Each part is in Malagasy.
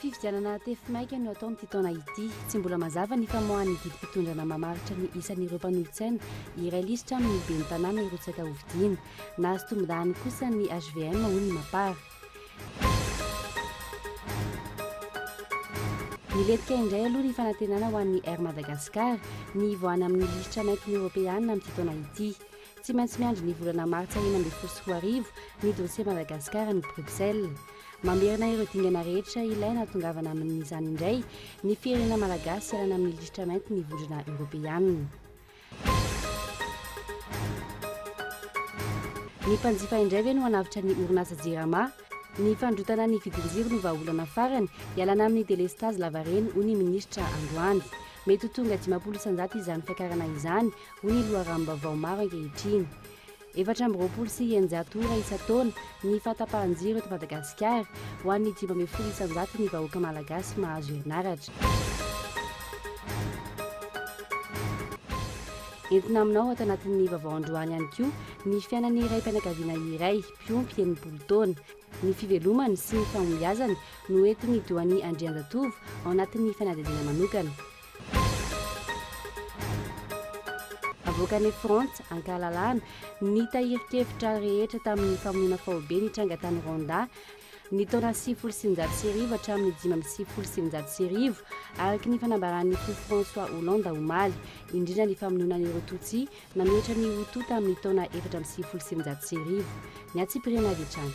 Fifidianana tefy maika no atao amin'ity taona ity. Tsy mbola mazava ny famoahan'ny didim-pitondrana mamaritra ny isan'ireo mpanolotsaina hiray lisitra amin'ny ben'ny tanàna hirotsaka hofidiana. Nahazo tombondahany kosa ny hvm, hoy ny Mapar. Nilentika indray aloha ny fanantenana ho an'ny Air Madagascar ny hivoahana amin'ny lisitra maintin'ny Eoropeana amin'ity taona ity. Tsy maintsy miandry ny volana martsa enina ambin'ny folo sy roa arivo ny dosie Madagascar any Bruxelles. Mamerina ireo dingana rehetra ilaina hahatongavana amin'izany indray ny firenena malagasy hialana amin'ny lisitra mainty ny vondrona Eoropeana. Ny mpanjifa indray ve no hanavotra ny orinasa Jirama? Ny fandrotana ny vidin-jiro no vahaolana farany hialana amin'ny delestazy lavareny, hoy ny minisitra androany. Mety ho tonga dimampolo isan-jato izany fiakarana izany, hoy ny loharanom-baovao maro ankehitriny. Efatra amby roapolo sy eninjato ora isan-taona ny fahatapahan-jiro eto Madagasikara. Ho an'ny dimy ambin'ny folo isan-jato ny vahoaka malagasy mahazo herinaratra. Entina aminao ato anatin'ny vaovao androany ihany koa ny fiainan'ny raim-pianakaviana iray mpiompy enimpolo taona. Ny fivelomany sy ny fahombiazany no entin'i Doany Andrianjatovo ao anatin'ny fanadihadiana manokana. Avoakan'i Frantsa an-kalalahana ny tahirin-kevitra rehetra tamin'ny famonoana faobe nitranga tany Rwanda ny taona sivifolo sy sivinjato sy arivo hatramin'ny dimy amby sivifolo sy sivinjato sy arivo, araka ny fanambaran'ny Toa François Hollande omaly, indrindra ny famonoana an'ireo Tutsi nanohitra ny Hutu tamin'ny taona efatra amby sivifolo sy sivinjato sy arivo. Ny hatsipiriany avy hatrany.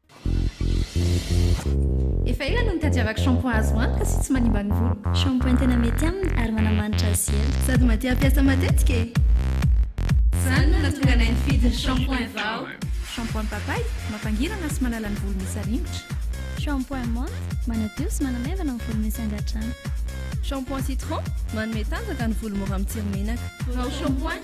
Efa ela no nitadiavako shampoing azo antoka sy tsy manimba ny voloko. Shampoing tena mety aminy ary manamanitra azy sy ela. Sady mahatia hampiasa matetika e! Izany no nahatonga anay nifidy ny shampoing vao. Shampoing papay, mampangirana sy manala ny volo misy aringotra. Shampoing menthe, manadio sy manamaivana ny volo misy angadrano. Shampoing citron, manome tanjaka ny volo mora mitsiry menaka. Vao shampoing,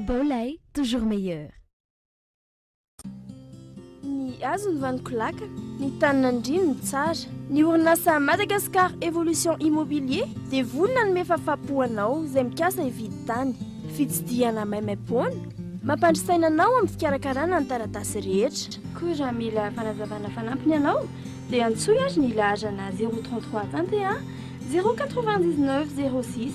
Baolay toujours meilleur. Ny hazo ny vaniko laka, ny tany nandriany ny tsara. Ny orinasa Madagascar Evolution Immobilier dia vono nanome fafapo ho anao izay mikasa hividy tany. Fitsidihana maimaimpoana, mampandry saina anao amin'ny fikarakarana ny taratasy rehetra. Koa raha mila fanazavana fanampiny ianao dia antsoy ary ny laharana zéro trente trois vingt et un zéro quatre-vingt-dix-neuf zéro six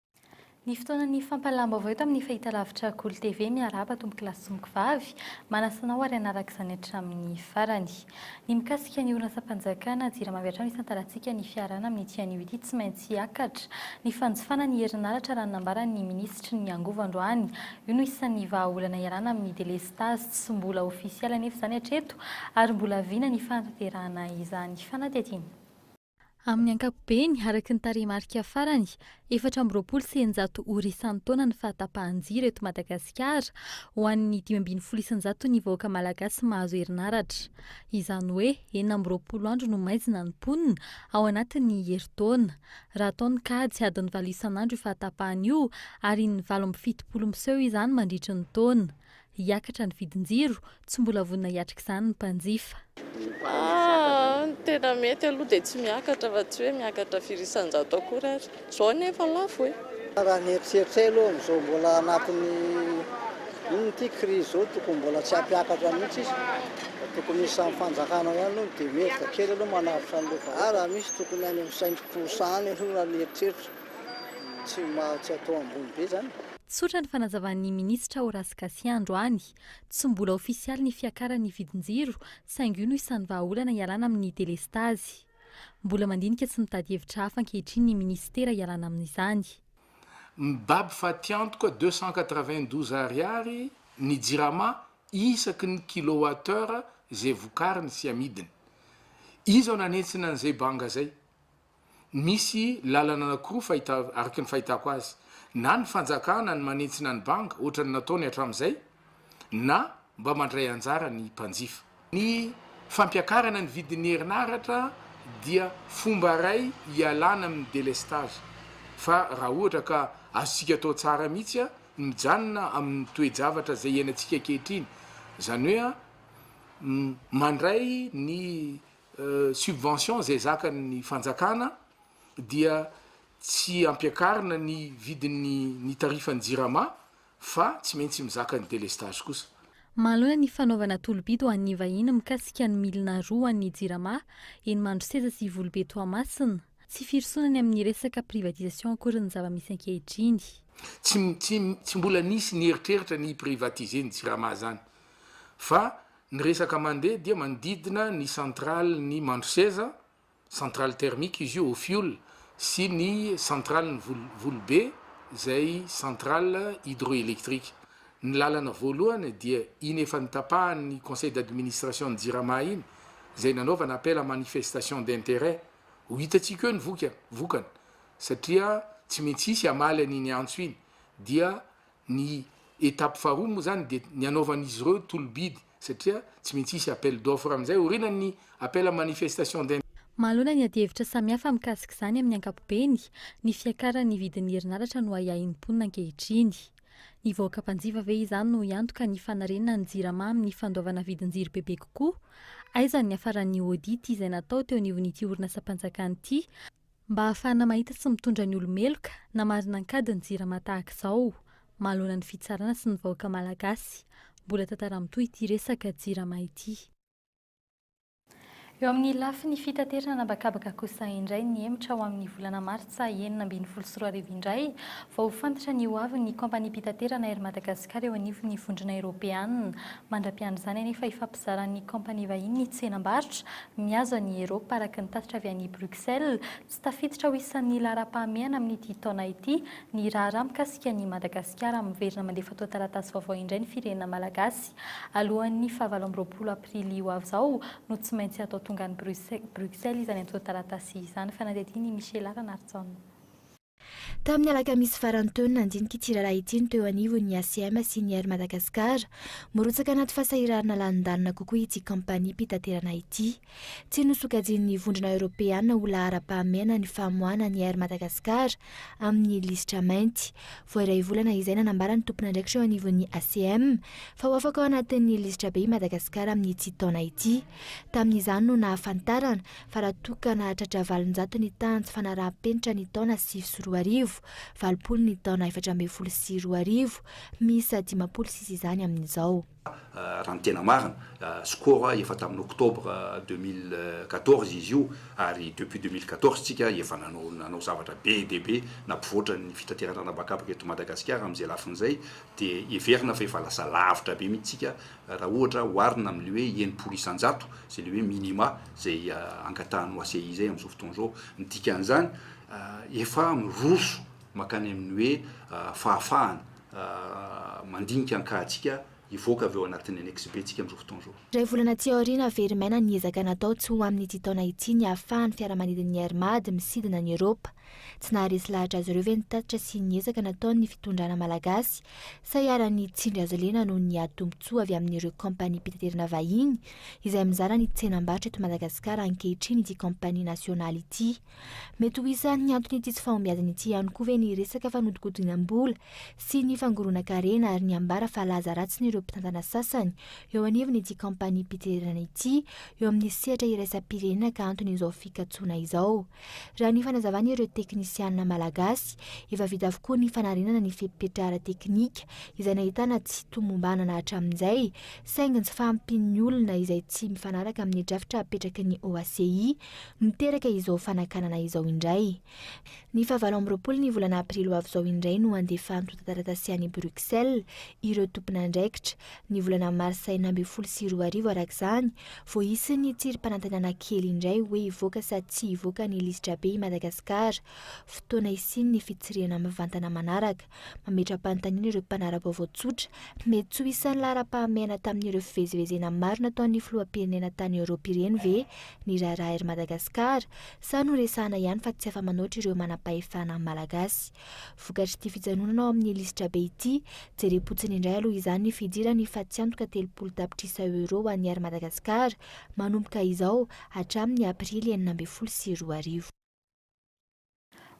Ny fotoanan'ny fampahalam-baovao eto amin'ny Fahitalavitra Kolo TV, miarahaba tompokolahy sy monkovavy, manasa anao ary hanaraka izany hatramin'ny farany. Ny mikasika ny orinasam-panjakana jirama avy hatrany isantarantsika ny fiarahana amin'ity anio ity tsy maintsy hiakatra ny fanjifana ny herinaratra raha ny nambaran'ny minisitry ny angovo androany, io no isan'ny vahaolana iarahana amin'ny delestazy tsy mbola ofisialy anefa izany hatreto ary mbola vina ny fanatanterahana izany fanadihadiana. Amin'ny ankapobeny, araka ny tarehimarika farany, efatra amby roapolo sy eninjato ora isan-taona ny fahatapahan-jiro eto Madagasikara, ho an'ny dimy ambin'ny folo isan-jato ny vahoaka malagasy mahazo herinaratra. Izany hoe enina amby roapolo andro no maizina ny mponina ao anatin'ny herintaona. Raha atao ny kajy, adiny valo isan'andro io fahatapahan io, ary in'ny valo amby fitopolo miseho izany mandritry ny taona. Hiakatra ny vidin-jiro, tsy mbola vonona hiatrika izany ny mpanjifa. Ny tena mety aloha dia tsy miakatra fa tsy hoe miakatra firy isan-jato akory ary. Izao anie efa lafo e! Raha ny eritreritray aloha amin'izao mbola anatin'ny inona ity crise izao tokony mbola tsy hampiakatra mihitsy izy fa tokony misy amin'ny fanjakana ihany aloha ny demetre kely aloha manavotra an'ireo fa ary raha misy tokony any amin'ny saintom-posa any aloha raha ny eritreritro tsy atao ambony be izany e! Tsotra ny fanazavan'ny minisitra Horace Gasià androany. Tsy mbola ofisialy ny fiakaran'ny vidin-jiro saingy io no isan'ny vahaolana hialana amin'ny delestazy. Mbola mandinika sy mitady hevitra hafa ankehitriny ny minisitera hialana amin'izany. Mibaby fatiantoka deux cent quatre-vingt-douze ariary ny jirama isaky ny kilowattheure izay vokariny sy amidiny. Iza no nanentsina an'izay banga izay? Misy lalana anakiroa fahita araky ny fahitako azy, na ny fanjakana ny manentsina ny banga ohatra ny nataony hatramin'izay na mba mandray anjara ny mpanjifa. Ny fampiakarana ny vidin'ny herinaratra dia fomba iray hialana amin'ny délestage fa raha ohatra ka azontsika atao tsara mihitsy ny mijanona amin'ny toe-javatra izay iainantsika ankehitriny, izany hoe mandray ny subvention izay zakan'ny fanjakana dia tsy ampiakarina ny vidin'ny ny tarifan'ny jirama fa tsy maintsy mizaka ny delestage kosa. Manoloana ny fanaovana tolobidy ho an'ny vahiny mikasika ny milina roa ho an'ny jirama, eny Mandroseza sy Ivolobe Toamasina, tsy firosoana ny amin'ny resaka privatisation akory ny zava-misy ankehitriny. Tsy tsy tsy mbola nisy ny eritreritra ny hi-privatiser ny jirama izany fa Ny resaka mandeha dia manodidina ny centrale ny Mandroseza, centrale thermique izy io au fioul, sy ny centrale ny Volobe izay centrale hydroélectrique. Ny lalana voalohany dia iny efa notapahan'ny conseil d'administration ny Jirama iny izay nanaovana appel à manifestation d'intérêt. Ho hitantsika eo ny vokany satria tsy maintsy hisy hamaly an'iny antso iny dia Ny étape faharoa moa izany dia ny hanaovan'izy ireo tolo-bidy satria tsy maintsy hisy appel d'offre amin'izay aorianan'ny appel à manifestation d'intérêt. Manoloana ny adihevitra samihafa mikasik'izany amin'ny ankapobeny, ny fiakaran'ny vidin'ny herinaratra no ahiahin'ny mponina ankehitriny. Ny vahoaka mpanjifa ve izany no hiantoka ny fanarenana ny Jirama amin'ny fandoavana vidin-jiro bebe kokoa? Aiza ny niafaran'ny audit izay natao teo anivon'ity orinasam-panjakana ity Mba hahafahana mahita sy mitondra ny olo-meloka na marina an-kady ny Jirama tahaka izao, mahaloana ny fitsarana sy ny vahoaka Malagasy. Mbola tantara mitohy ity resaka Jirama ity. Eo amin'ny lafiny fitaterana an'habakabaka kosa indray ny hemotra ho amin'ny volana martsa enina ambin'ny folo sy roa arivo indray vao ho fantatra ny ho avin'ny kaompaniam-pitaterana Air Madagascar eo anivon'ny vondrona eropeana. Mandra-piandry izany anefa ifampizaran'ny kaompania vahiny ny tsenam-barotra Mihazo an'i Eropa araka ny tatitra avy any Bruxelles, tsy tafiditra ho isan'ny laharam-pahamehana amin'ity taona ity ny raharaha mikasika an'i Madagasikara. Miverina mandeha fotoan-taratasy vaovao indray ny firenena malagasy. Alohan'ny fahavalo amby roapolo aprily ho avy izao no tsy maintsy hatao tonga any Bruxelles izany antontan-taratasy izany, fanadihadian'i Michela Ranarijaona. Tamin'ny alakamisy faran'ny teo no nandinika ity raharaha ity ny teo anivon'ny ACM sy ny Air Madagascar. Mirotsaka anaty fasahiranana lalindalina kokoa ity kaompaniam-pitaterana ity. Tsy nosokajian'ny Vondrona Eoropeana ho laharam-pahamehana ny famoahana ny Air Madagascar amin'ny lisitra mainty. Vao iray volana izay nanambara ny tompon'andraikitra eo anivon'ny ACM fa ho afaka ao anatin'ny lisitra be i Madagasikara amin'ity taona ity. Tamin'izany no nahafantarana fa raha toa ka nahatratra valonjato ny tahan tsy fanaraham-penitra ny taona sivy sy roa arivo, valopolo ny taona efatra ambin'ny folo sy roa arivo, miisa dimampolo sisa izany amin'izao. Raha ny tena marina, score a, efa tamin'ny octobre deux mille quatorze izy io ary depuis deux mille quatorze tsika efa nanao nanao zavatra be dia be nampivoatra ny fitaterana an'habakabaka eto Madagasikara amin'izay lafiny izay dia heverina fa efa lasa lavitra be mihitsy tsika raha ohatra oharina amin'ilay hoe enimpolo isan-jato, izay ilay hoe minima izay angatahan'ny OACI izay amin'izao fotoana izao. Ny dikan'izany, efa miroso mankany amin'ny hoe fahafahana mandinika an-kahantsika hivoaka avy ao anatin'ny annexe B tsika amin'izao fotoana izao. Iray volana aty aoriana, havery maina ny ezaka natao tsy ho amin'ity taona ity ny hahafahan'ny fiaramanidin'ny Air Mad misidina an'i Eoropa. Tsy naharesy lahatra azy ireo ve ny tatitra sy ny ezaka nataon'ny fitondrana malagasy? Sa iharan'ny tsindry azo lena noho ny ady tombontsoa avy amin'ireo kaompaniam-pitaterana vahiny izay mizara ny tsenam-barotra eto Madagasikara ankehitriny ity kaompania nasionaly ity? Mety ho isan'ny anton'ity tsy fahombiazana ity ihany koa ve ny resaka fanodinkodinam-bola sy ny fangoronan-karena ary ny ambara fa laza ratsin'ireo mpitantana sasany eo anivon'ity kaompaniam-pitererana ity eo amin'ny sehatra iraisam-pirenena ka anton'izao fikatsoana izao? Raha ny fanazavan'ireo teknisiana malagasy, efa vita avokoa ny fanarenana ny fepetra ara-teknika izay nahitana tsy tomombanana hatramin'izay, saingy ny tsy fahampian'ny olona izay tsy mifanaraka amin'ny drafitra apetraky ny OACI no teraka izao fanakanana izao indray. Ny fahavalo amby roapolo ny volana aprily ho avy izao indray no handefa antontan-taratasy any Bruxelles ireo tompon'andraikitra Ny volana marsa enina ambin'ny folo sy roa arivo araka izany vao hisy ny tsirim-panantenana kely indray hoe hivoaka sa tsy hivoaka ny lisitra be i Madagasikara. Fotoana hisian'ny fitsirihana mivantana manaraka. Mametra-panontaniana ireo mpanara-baovao tsotra. Mety tsy ho isan'ny laharam-pahamehana tamin'ireo fivezivezena maro nataon'ny filoham-pirenena tany Eoropa ireny ve ny raharaha Air Madagascar sa noresahana ihany fa tsy afa-manoatra ireo manam-pahefana malagasy? Vokatr'ity fijanonana ao amin'ny lisitrabe ity, jerem-potsiny indray aloha izany ny fidiran'ny fatiantoka telopolo tapitrisa euros ho an'ny Air Madagascar, manomboka izao, hatramin'ny aprily enina ambin'ny folo sy roa arivo.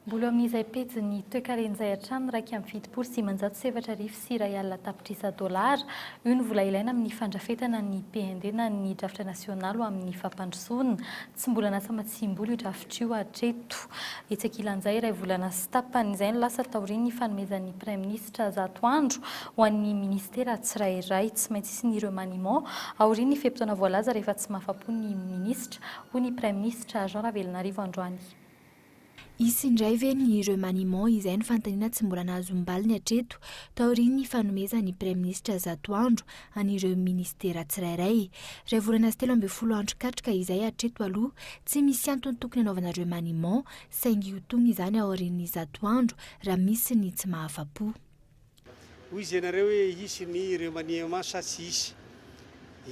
Mbola eo amin'izay pejin'ny toekarena izay hatramin'ny iraika amby fitopolo sy dimanjato sy efatra arivo, sy iray alina tapitrisa dolara. Io no vola ilaina amin'ny fandrafetana ny PND na ny drafitra nasionaly ho amin'ny fampandrosoana. Tsy mbola natsamatsiam-bola io drafitra io hatreto. Etsy ankilan'izay, iray volana sy tapany izay no lasa taorian'ny fanomezan'ny Praiminisitra zato andro ho an'ny Ministera tsirairay. Tsy maintsy hisy ny remaniement aorian'ny fe-potoana voalaza rehefa tsy mahafa-po ny Minisitra, hoy ny Praiminisitra Jean Ravelonarivo androany. Hisy indray ve ny remaniement izay no fanontaniana tsy mbola nahazom-baliny hatreto taorian'ny fanomezan'ny Praiminisitra zato andro an'ireo minisitera tsirairay. Iray volana sy telo ambin'ny folo andro katroka izay hatreto aloha tsy misy antony tokony hanaovana remaniement saingy ho tony izany aorian'ny zato andro raha misy ny tsy mahafa-po. Hoy izy ianareo hoe hisy ny remaniement sa tsy hisy?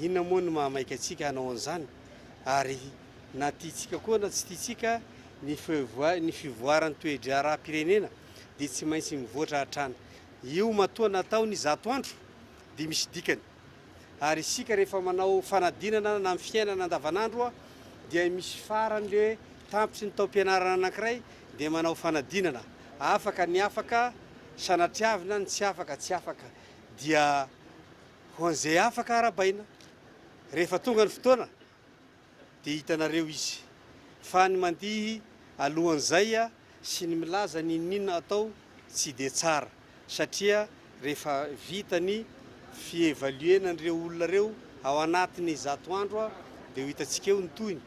Inona moa no mahamaika antsika hanao an'izany? Ary na tiantsika koa na tsy tiantsika, ny fivoa, ny fivoaran'ny toe-draharaham-pirenena dia tsy maintsy mivoatra hatrany. Io matoa natao ny zato andro dia misy dikany. Ary isika rehefa manao fanadinana na amin'ny fiainana andavanandro dia misy farany ilay hoe tampitry ny taom-pianarana anankiray dia manao fanadinana. Afaka ny afaka sanatriavina ny tsy afaka tsy afaka. Dia ho an'izay afaka arabaina. Rehefa tonga ny fotoana Dia hitanareo izy. Fa ny mandihy alohan'izay sy ny milaza ny inon'inona atao tsy dia tsara, satria rehefa vita ny fi-evaluer-na an'ireo olona ireo ao anatin'ny zato andro dia ho hitantsika eo ny tohiny.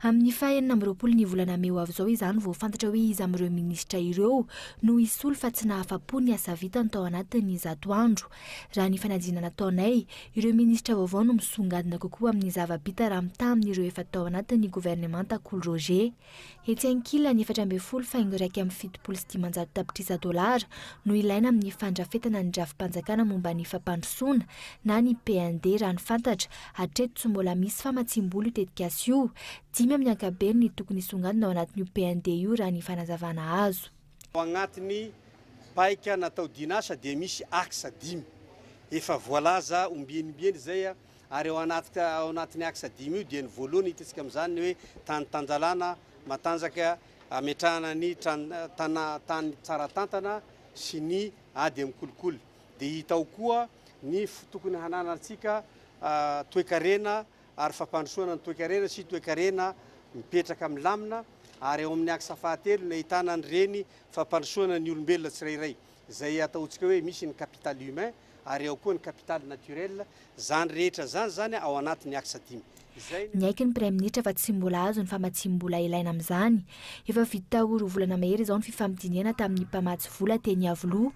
Amin'ny faha enina amby roapolo ny volana mey ho avy izao izany vao fantatra hoe iza amin'ireo minisitra ireo no hisolo fa tsy nahafa-po ny asa vitany tao anatin'ny zato andro. Raha ny fanadinana nataonay, ireo minisitra vaovao no misongadina kokoa amin'ny zava-bita raha mitaha amin'ireo efa tao anatin'ny governemanta Kolo Roger. Etsy ankilany, efatra ambin'ny folo faingo iraika amby fitopolo sy dimanjato tapitrisa dolara no ilaina amin'ny fandrafetana ny drafi-panjakana momba ny fampandrosoana na ny PND raha ny fantatra, hatreto tsy mbola misy famatsiam-bola io tetikasa io. Dimy amin'ny ankabeny ny tokony hisongadina ao anatin'io PND io raha ny fanazavana azo. Ao agnatin'ny paika natao dian'asa dia misy axe dimy efa voalaza ombienibieny izay ary ao anatin'ny axe dimy io dia ny voalohany hitantsika amin'izany ny hoe tany tanjalana matanjaka ametrahana ny tany tsara tantana sy ny ady amin'ny kolikoly dia hita ao koa ny tokony hananantsika toekarena ary fampandrosoana ny toekarena sy toekarena mipetraka milamina ary ao amin'ny axe fahatelo ny ahitana an'ireny fampandrosoana ny olombelona tsirairay izay ataontsika hoe misy ny capital humain ary ao koa ny capital naturel izany rehetra izany izany ao anatin'ny axe dimy izay Niaiky ny Praiminisitra fa tsy mbola azo ny famatsiam-bola ilaina amin'izany. Efa vita ho roa volana mahery izao ny fifamidinihana tamin'ny mpamatsy vola teny Iavoloha,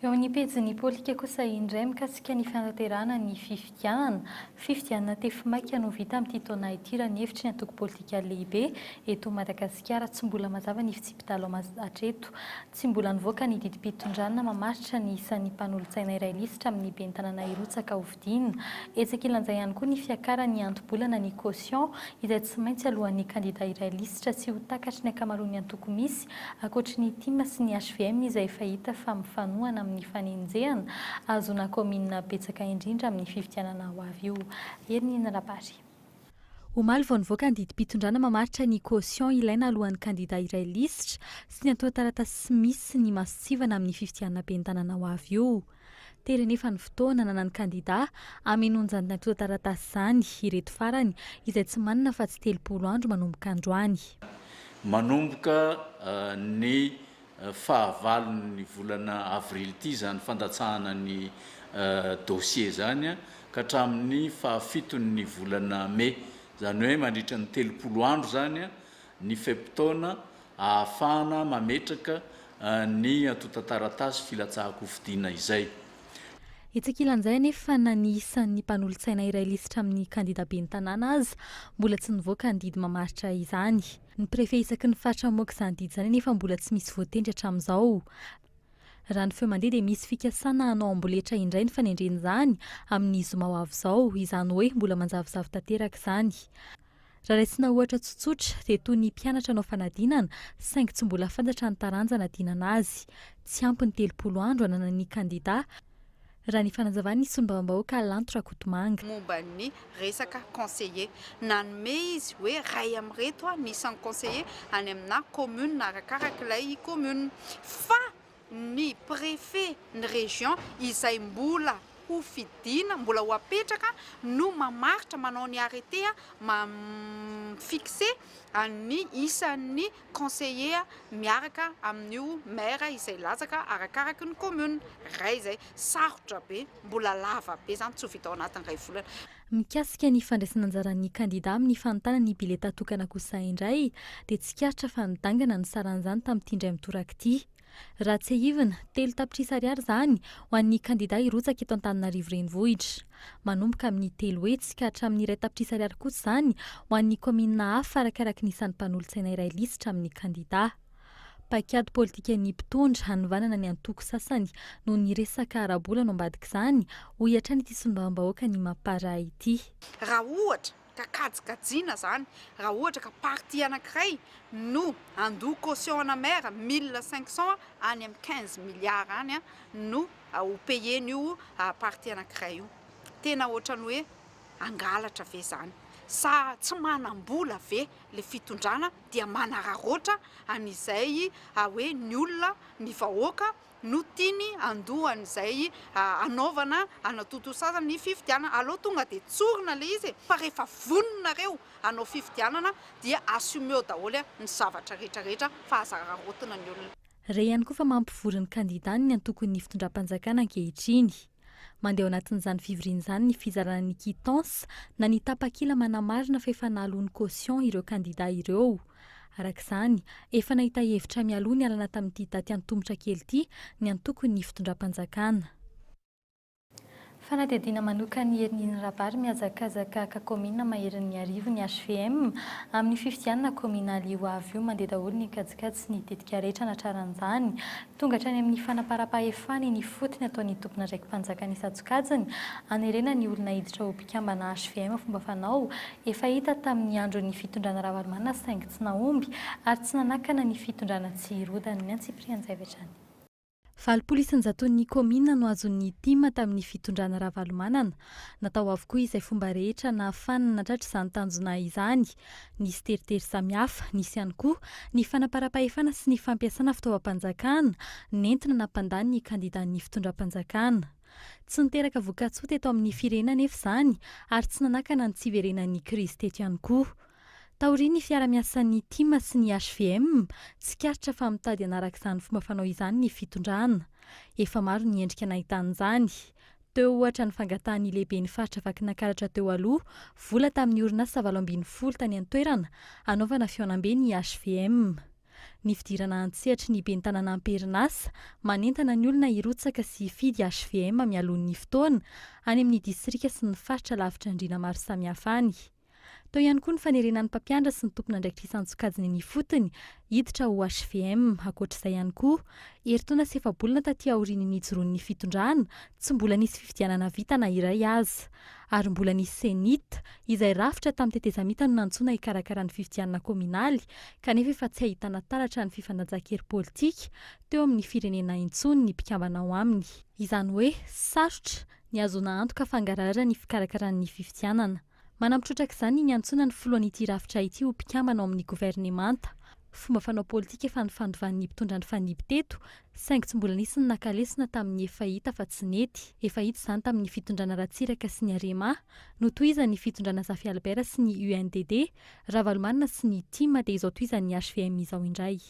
Eo amin'ny pejin'ny Poltika kosa indray mikasika ny fanatanterahana ny fifidianana. Fifidianana tefy maika no vita amin'ity taona ity raha ny hevitry ny antoko politika lehibe eto Madagasikara. Tsy mbola mazava ny fitsipi-dalao hatreto. Tsy mbola nivoaka ny didim-pitondrana mamaritra ny isan'ny mpanolotsaina iray lisitra amin'ny ben'ny tanàna hirotsaka ho Dina. Etsy ankilan'izay ihany koa ny fiakaran'ny anto-bolana ny caution izay tsy maintsy aloan'ny kandida iray lisitra tsy ho takatry ny ankamaroan'ny antoko misy, ankoatry ny tim sy ny hvm izay efa hita fa mifanohana amin'ny fanenjehana ahazoana kaominina betsaka indrindra amin'ny fifidianana ho avy io. Hery Ninirabary. Omaly vao nivoaka ny didim-pitondrana mamaritra ny caution ilaina alohan'ny kandida hiray lisitra sy ny antontan-taratasy misy ny masontsivana amin'ny fifidianana ben'ny tanàna ho avy io. Tery anefa ny fotoana ananan'ny kandida hamenoan'izany antontan-taratasy izany ireto farany izay tsy manana afa-tsy telopolo andro manomboka androany. Manomboka ny fahavalon'ny volana avrily ity izany fandatsahana ny dossier izany ka hatramin'ny fahafiton'ny volana mey, izany hoe mandritra ny telopolo andro izany ny fe-potoana ahafahana mametraka ny antontan-taratasy filatsahan-kofidina izay. Etsy ankilan'izay anefa fa na ny isan'ny mpanolotsaina iray lisitra amin'ny kandida ben'ny tanàna aza mbola tsy nivoaka ny didy mamaritra izany. Ny Prefe isaky ny faritra mamoaka izany didy izany anefa mbola tsy misy voatendry hatramin'izao. Raha ny feo mandeha dia misy fikasana hanao amboletra indray ny fanendrena izany amin'ny zoma ho avy izao, izany hoe mbola manjavozavo tanteraka izany. Raha raisina ohatra tsotsotra dia toy ny mpianatra hanao fanadinana saingy tsy mbola fantatra ny taranja anadinana azy. Tsy ampy ny telopolo andro ananan'ny kandida. raha ny fanazavan'ny solombavambahoaka Lanto Rakotomanga. momba ny resaka conseiller. Nanome izy hoe iray amin'ireto ny isan'ny conseiller any aminà commune arakaraka ilay commune. Fa ny préfet ny région izay mbola ho fidiana, mbola ho apetraka no mamaritra, manao ny arrêté, mi-fixer an'ny isan'ny conseiller miaraka amin'io maire izay latsaka arakaraky ny commune ray izay sarotra be mbola lava be izany tsy ho vita ao anatin'ny ray volana. Mikasika ny fandraisana anjaran'ny kandida amin'ny fanontana ny biletà tokana kosa indray dia tsikaritra fa nidangana ny saran'izany tamin'ity indray mitoraka ity. Raha tsiahivina, telo tapitrisa ariary izany ho an'ny kandidà hirotsaka eto Antananarivo Renivohitra. Manomboka amin'ny telo hetsy ka hatramin'ny iray tapitrisa ariary kosa izany ho an'ny kaominina hafa arakaraky ny isan'ny mpanolotsaina iray lisitra amin'ny kandidà. Paikady politikan'ny mpitondra hanovanana ny antoko sasany noho ny resaka ara-bola no ambadik'izany, hoy hatrany ity solombavambahoakan'i Mapar ity. Raha ohatra ka kajikajina izany raha ohatra ka partie anankiray no handoa caution ana maire mille cinq cent any amin'ny quinze milliards any no ho payen'io partie anankiray io, tena ohatran'ny hoe hangalatra ve izany? sa tsy manam-bola ve ilay fitondrana dia manararaotra an'izay hoe ny olona, ny vahoaka no tiany handoa an'izay hanaovana hanatontosazana ny fifidianana, aleo tonga dia tsorina ilay izy e! fa rehefa voninareo hanao fifidianana dia assumeo daholo ny zavatra rehetra rehetra fa aza araraotina ny olona. Re ihany koa fa mampivory ny kandidany ny antokon'ny fitondram-panjakana ankehitriny. Mandeha ao anatin'izany fivoriana izany ny fizarana ny quittance na ny tapakila manamarina fa efa naloa ny caution ireo kandidà ireo. Araka izany, efa nahita hevitra mialoha nialana tamin'ity daty antomotra kely ity ny antokon'ny fitondram-panjakana. Fanadihadiana manoka ny Herin'iny Rabary mihazakazaka ka kaominina maherin'ny Miarivo ny HVM. Amin'ny fifidianana kaominaly ho avy io mandeha daholo ny kajikajy sy ny tetika rehetra anatraran'izany. Tonga hatrany amin'ny fanamparam-pahefana eny ifotony ataon'ny tompon'andraiki-panjakana isan-tsokajiny hanerena ny olona hiditra ho mpikambana hvm fomba fanao efa hita tamin'ny andron'ny fitondrana Ravalomanana saingy tsy nahomby ary tsy nanakana ny fitondrana tsy hirodana ny antsipirian-javatra ny Valopolo isan-jaton'ny kaominina no azon'ny tim tamin'ny fitondrana Ravalomanana. Natao avokoa izay fomba rehetra nahafahana natratra izany tanjona izany Nisy teritery samihafa, nisy ihany koa ny fanamparam-pahefana sy ny fampiasana fitaovam-panjakana nentina nampandany ny kandidan'ny fitondram-panjakana. Tsy niteraka vokatsoa teto amin'ny firenena anefa izany ary tsy nanakana ny tsy hiverenan'ny krizy teto ihany koa. Taorian'ny fiara-miasan'ny tim sy ny hvm, tsikaritra fa mitady hanaraka izany fomba fanao izany ny fitondrana. Efa maro ny endrika nahitana izany. Teo ohatra ny fangatahan'ny lehiben'ny faritra Vakinankaratra teo aloha vola tamin'ny orinasa valo ambin'ny folo tany an-toerana hanaovana fihaonambe ny hvm. Ny fidirana an-tsehatry ny ben'ny tanàna am-perinasa manentana ny olona hirotsaka sy hifidy hvm mialoha ny fotoana any amin'ny distrika sy ny faritra lavitra andriana maro samihafa any. Tao ihany koa ny fanerena ny mpampianatra sy ny tompon'andraikitra isan-tsokajiny eny ifotony hiditra ho HVM. Ankoatra izay ihany koa, herintaona sy efa-bolana taty aorian'ny nijoroan'ny fitondrana, tsy mbola nisy fifidianana vita na iray aza. Ary mbola nisy CENIT, izay rafitra tamin'ny tetezamita no nantsoina hikarakara ny fifidianana kaominaly, kanefa efa tsy ahitana taratra ny fifanajan-kery politika teo amin'ny firenena intsony ny mpikambana ao aminy. Izany hoe, sarotra niazona antoka fangarahara ny fikarakarany ny fifidianana. Manampy trotraka izany ny niantsoana ny filohan'ity rafitra ity ho mpikambana ao amin'ny governemanta. Fomba fanao politika efa nifandovan'ny mpitondra nifanidy teto, saingy tsy mbola nisy ny naka lesona tamin'ny efa hita fa tsy nety. Efa hita izany tamin'ny fitondrana Ratsiraka sy ny Arema, notohizan'ny fitondrana Zafy Albert sy ny UNDD, Ravalomanana sy ny tim dia izao tohizan'ny hvm izao indray.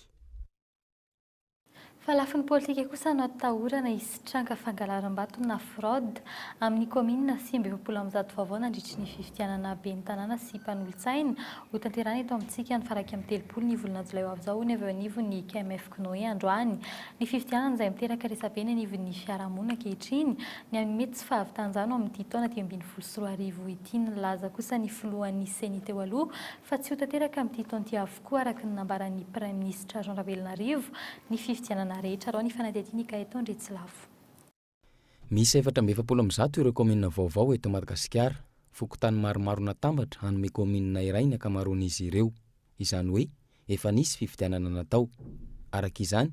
Fa lafiny politika kosa no atahorana hisitraka fangalaram-bato na fraude amin'ny kaominina sivy ambin'ny folo amin'ny zato vaovao nandritry ny fifidianana ben'ny tanàna sy mpanolotsaina hotanterahina eto amintsika ny faha-iraika amby telopolo ny volana jolay ho avy izao hono avy eo anivon'ny kmfknoe androany ny fifidianana izay miteraka resa-be eny anivon'ny fiarahamonina ankehitriny ny amin'ny mety tsy fahavitan-jano amin'ity taona dimy ambin'ny folo sy roa arivo ity nilaza kosa ny filohan'ny ceni teo aloha fa tsy ho tanteraka amin'ity taona ity avokoa araka ny nambaran'ny Praiminisitra Jean Ravelonarivo ny fifidianana rehetra arao ny fanadihadian'i Gaëtan Andriantsylafo. Miisa efatra amby efapolo amby zato ireo kaominina vaovao eto Madagasikara. Fokontany maromaro natambatra hanome kaominina iray ny ankamaroan'izy ireo. Izany hoe efa nisy fifidianana natao. Araka izany,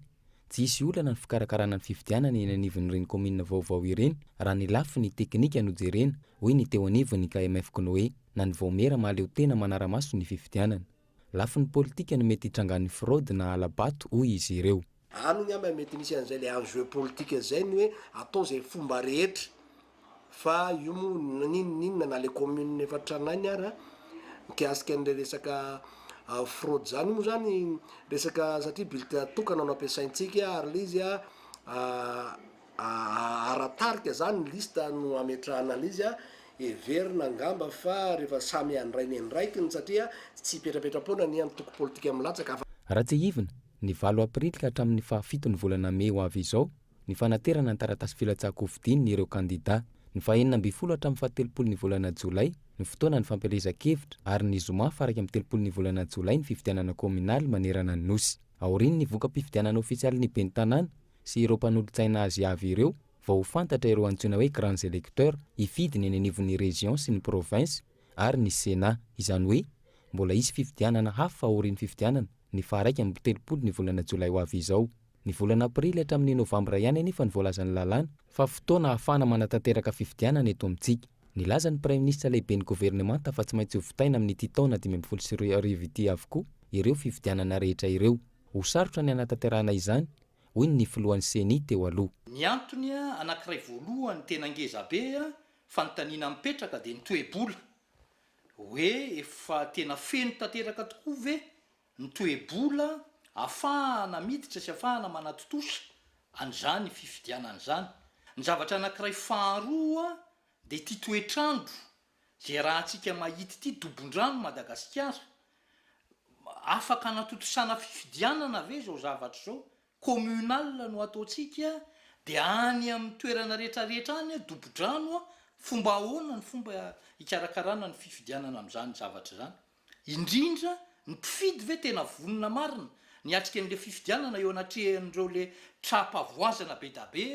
Tsy hisy olana ny fikarakarana ny fifidianana eny anivon'ireny kaominina vaovao ireny raha ny lafiny teknika no jerena, hoy ny teo anivon'ny KMF K'noe na ny Vaomiera mahaleo tena manara-maso ny fifidianana. Lafiny politika no mety hitrangan'ny fraude na hala-bato, hoy izy ireo. Any angamba mety misy an'izay ilay enjeu politika izay ny hoe atao izay fomba rehetra Fa io moa n'inona n'inona na le commune efa tranainy ara, mikasika an'le resaka fraude zany, io moa zany resaka satria bulletin tokana no ampiasaintsika ary le izy ara-tarika zany liste no ametrahana an'izy a, heverina angamba fa rehefa samy handray ny andraikiny satria tsy hipetrapetra-poana ny antoko politika milatsaka fa. Raha tsiahivina, ny valo aprily ka hatramin'ny fahafiton'ny volana mey ho avy izao, ny fanaterana ny taratasy filatsahan-kofidin' ireo kandidà, ny fahenina ambin'ny folo hatramin'ny fahatelopolo ny volana jolay ny fotoana ny fampielezan-kevitra ary ny zoma faharaika amby telopolo ny volana jolay ny fifidianana kaominaly manerana ny Nosy. Aorian' ny voka-pifidianana ôfisialin' ny ben'ny tanàna sy ireo mpanolotsaina azy avy ireo vao ho fantatra ireo antsoina hoe grands électeurs hifidy ny eny anivon' ny régions sy ny provinces ary ny Sénat, izany hoe mbola hisy fifidianana hafa aorian' ny fifidianana ny faharaika amby telopolo ny volana jolay ho avy izao. Ny volana aprily hatramin'ny novambra ihany anefa no voalazan'ny lalàna fa fotoana ahafahana manatanteraka fifidianana eto amintsika. Nilaza ny Praiminisitra Lehiben'ny Governemanta fa tsy maintsy hovitaina amin'ity taona dimy ambin'ny folo sy roa arivo ity avokoa ireo fifidianana rehetra ireo. Ho sarotra ny hanatanterahana izany, hoy ny ny filohan'ny Ceni teo aloha. Ny antony anankiray voalohany tena ngeza be fanontaniana mipetraka dia ny toe-bola. Hoe efa tena feno tanteraka tokoa ve ny toe-bola afahana miditra sy afahana manatontosa an'izany fifidianana izany. Ny zavatra anankiray faharoa dia ity toetr'andro izay rahantsika mahita ity, dobon-drano Madagasikara. Afaka anatontosana fifidianana ve izao zavatra izao? Communal no ataontsika dia any amin'ny toerana rehetrarehetra any dobo-drano, fomba ahoana ny fomba hikarakarana ny fifidianana amin'izany zavatra izany? Indrindra ny mpifidy ve tena vonona marina ny hiatrika an'ireo fifidianana eo anatrehan'ireo le tra-pavoazana bedabe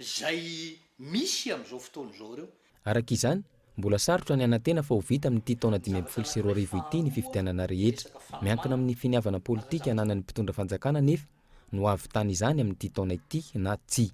izay misy amin'izao fotoana izao ireo? Araka izany, mbola sarotra ny hanantena fa ho vita amin'ity taona dimy ambin'ny folo sy roa arivo ity ny fifidianana rehetra. Miankina amin'ny finiavana politika ananan'ny mpitondra fanjakana anefa no hahavitana izany amin'ity taona ity na tsia.